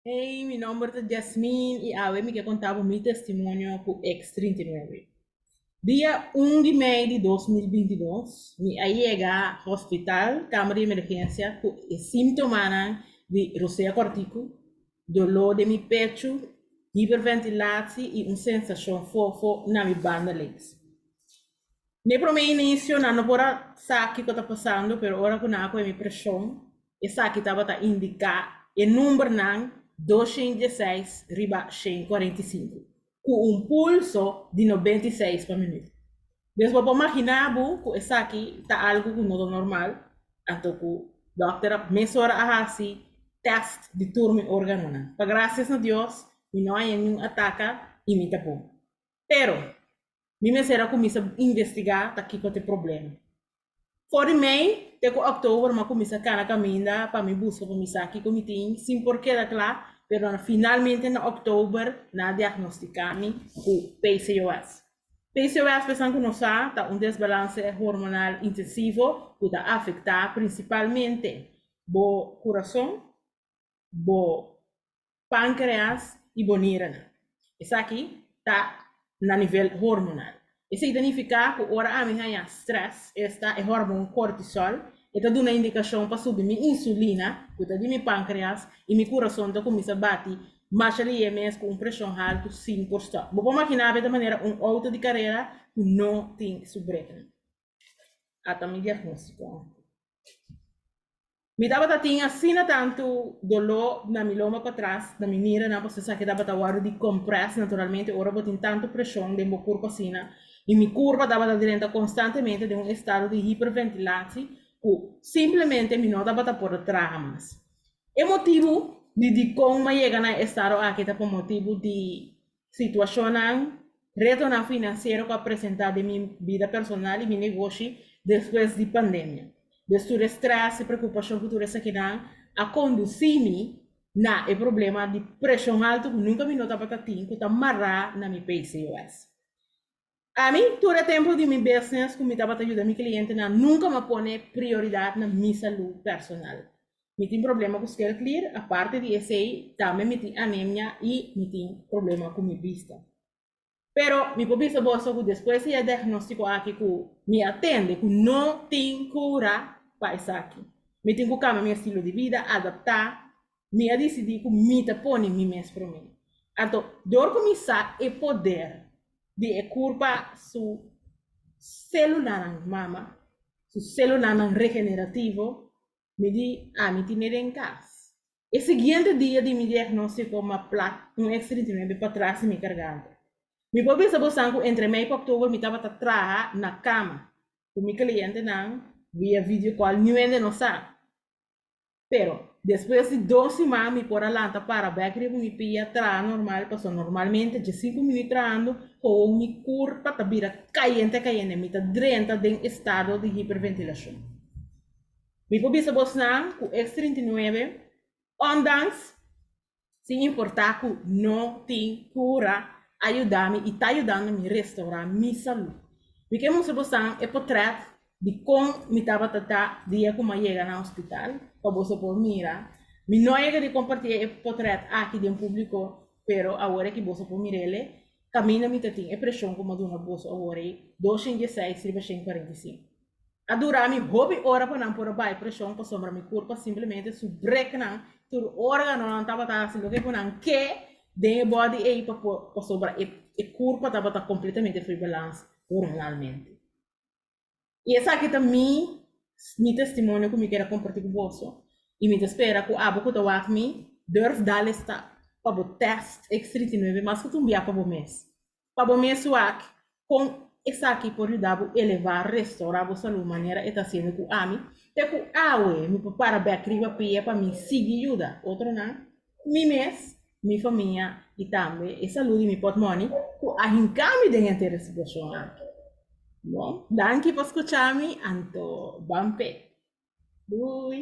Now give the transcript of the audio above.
Hey, mi nomber ta Jasmine y awe mi ke contá bo mi testimonio cu ex 39. Dia 1 di mei di 2022, mi a yega hospital, kamer di emergencia, cu e símtomanan di rosea corticu, dolor den mi pechu, hiperventilatie y un sensacion fofo na mi banda links. Na e prome inicio nan no por a sa kico ta pasando, pero ora cu nan a coge mi presion, esaki tabata indica e numbernan dos shen dieseis riba shen cuarenta y cinco, cu un pulso di noventa y seis pa minuto. Des bo por magina bo cu esaki ta algo cu no ta normal, anto cu dokter a mesora a haci test di tur mi organonan. Pa gracias na Dios mi no haña niun ataca y mi ta bon. Pero, mi mester a cuminsa investiga ta kico t'e problema. For di mei te cu october mi a cuminsa cana caminda pa mi busca pa mi sa kico mi tin, sin por keda cla, pero na finalmente na october nan a diagnostica mi cu PCOS. PCOS pesan cu no sa ta un desbalance hormonal intensivo cu ta afecta principalmente bo curason, bo pancreas y boniranan. Esaki ta na nivel hormonal. Esey ta nifica cu ora ami haya stress, esta e hormon cortisol, e ta duna indicacion pa subi mi insulina, cu ta di mi pancreas, y mi curason ta cuminsa bati masha liye mes cu un presion halto sin por stop. Bo por magina abe ta manera un auto di carera cu no tin su brekenan. Ata mi diagnostico aki. Mi tabata tin asina tantu doló na mi loma patras, na mi miranan, pasobra esaki a tabata wòrdu di compress naturalmente ora bo tin tantu preshon den bo kurpa asina. I mi kurpa tabata drenta konstantemente den un estado di hiperventilatsi ku simplemente mi no tabata por a traha mas. E motibu di dikon mi a yega na e estado aki ta por motibu di situacionnan, retonan financiero cu a presenta den mi bida personal y mi negoshi despues di pandemia. Des tur e stress y preocupacion cu tur esakinan a conduci mi na e problema di presion alto cu nunca mi no tabata tin cu ta mara na mi PCOS. A mi, tur e tempu di mi business ku mi tabata yuda mi klientenan, nunka mi a pone prioridat na mi salú personal. Mi tin problema ku skel klir, aparte di esei, tambe mi tin anemia i mi tin problema ku mi bista. Pero mi por bisa boso ku despues di e diagnóstiko aki ku mi a tende ku no tin kura pa esaki. Mi tin ku kambia mi estilo di bida, adaptá Mi a disidí ku mi ta pone mi mes promé. Anto, dor ku mi sa e poder di e kurpa su selulanan mama, su selulanan regenerativo, mi di, Ami tin e den kas. E siguiente dia di mi diagnóstiko mi a pla un eks trinta i nuebe patras di mi garganta. Mi por bisa bosan ku entre mei ku oktober mi tabata traha na kama ku mi klientenan via video kòl niu hende no sa. Pero despues di dos siman mi por a lanta para bek riba mi pie a traha normal paso normalmente dje sinku minut trahando howo mi kurpa ta bira kayente kayente mi ta drenta den estado di hiperventilashon mi por bisa bosnan ku X39 ondanks sin importá ku no tin kura, a yuda mi i ta yudando mi restaurá mi salú. Mi ke mustra bosan e potrèt di kon mi tabata ta dia ku mi a yega na hospital, pa boso por mira. Mi no a yega di kompartí e potrèt aki den públiko, pero awor aki boso por mira el'e kaminda mi ta tin e preshon ku mi a duna boso awor ei, dos shen diesseis riba shen kuarenta i sinku. A dura mi hopi ora pa nan por a bai presion pasobra mi curpa simplemente su break nan tur organonan tabata haci loke cu nan ke den e body ey pa por pasobra e e curpa tabata completamente fuy balans hormonalmente y esaki ta mi mi testimonio cu mi keda comparti cu boso y mi ta spera cu abo cu ta wak mi durf dale stap pa bo test X treinta i nueve mas cu tumbia pa bo mes Pa bo mes wak, kon esaki por yuda bo elevá, restaurá, bo salú manera e ta hasiendo ku ami? Te ku awe mi por para bèk riba pia pa mi sigui yuda otronan? Mi mes, mi famia i tambe e salú di mi pòtmòni ku a hinká mi den henter e situashon aki. Bon, danki pa skuchá mi, anto ban p'e. Dui!